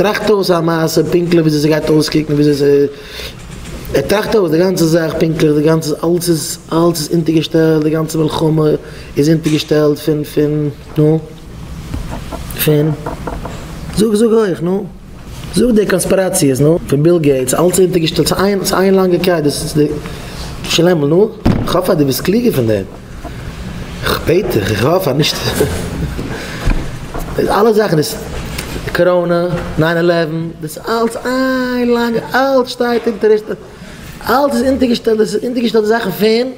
טראכט אויס א מעשה פונקטליך וויאזוי ס'גייט אויסקוקן וויאזוי ס' ער טראכט אויס די גאנצע זאך פונקטליך די גאנצע אלס איז אלס איז אונטערגעשטעלט די גאנצע מלחמה איז אונטערגעשטעלט פון פון נו פון זאג זאג הויך נו זאג די קאנספיראציעס נו פון ביל געיטס אלס איז אונטערגעשטעלט ס'איז איין ס'איז איין לאנגע קייט דאס איז די שלעמל נו כ'האף אז דו ביסט קלוגער פון דעם. איך בעט דיך, איך האף אז נישט. די אלע זאכן איז קאראנע, ניין אילעווען, דאס איז אלץ איין לאנגע, אלץ שטייט אונטער, אלץ איז אונטערגעשטעלט, דאס איז אונטערגעשטעלט די זאכן פון,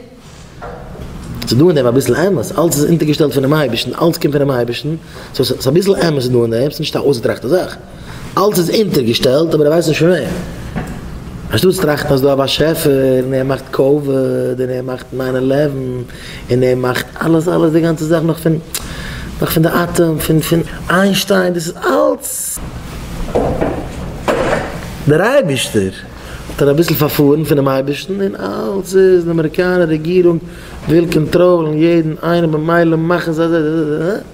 ס'איז דא אין דעם אביסל אמת, אלץ איז אונטערגעשטעלט פונעם אייבערשטן, אלץ קומט פונעם אייבערשטן, סאו ס'איז אביסל אמת אין דעם, ס'איז נישט א אויסגעטראכטע זאך. אלץ איז אונטערגעשטעלט אבער ער ווייסט נישט פון וועם. אנשטאט צו טראכטן אז ס'איז דא א באשעפער און ער מאכט קאוויד און ער מאכט ניין עלעווען און ער מאכט אלעס אלעס די גאנצע זאך נאך פון נאך פון די אטעם פון פון איינשטיין דאס איז אלץ דער אייבערשטער האט ער אביסל פארפארן פונעם אייבערשטן און אלץ איז די אמעריקאנער רעגירונג וויל קאנטראלן יעדן איינעם ממילא מאכן זיי אזוי.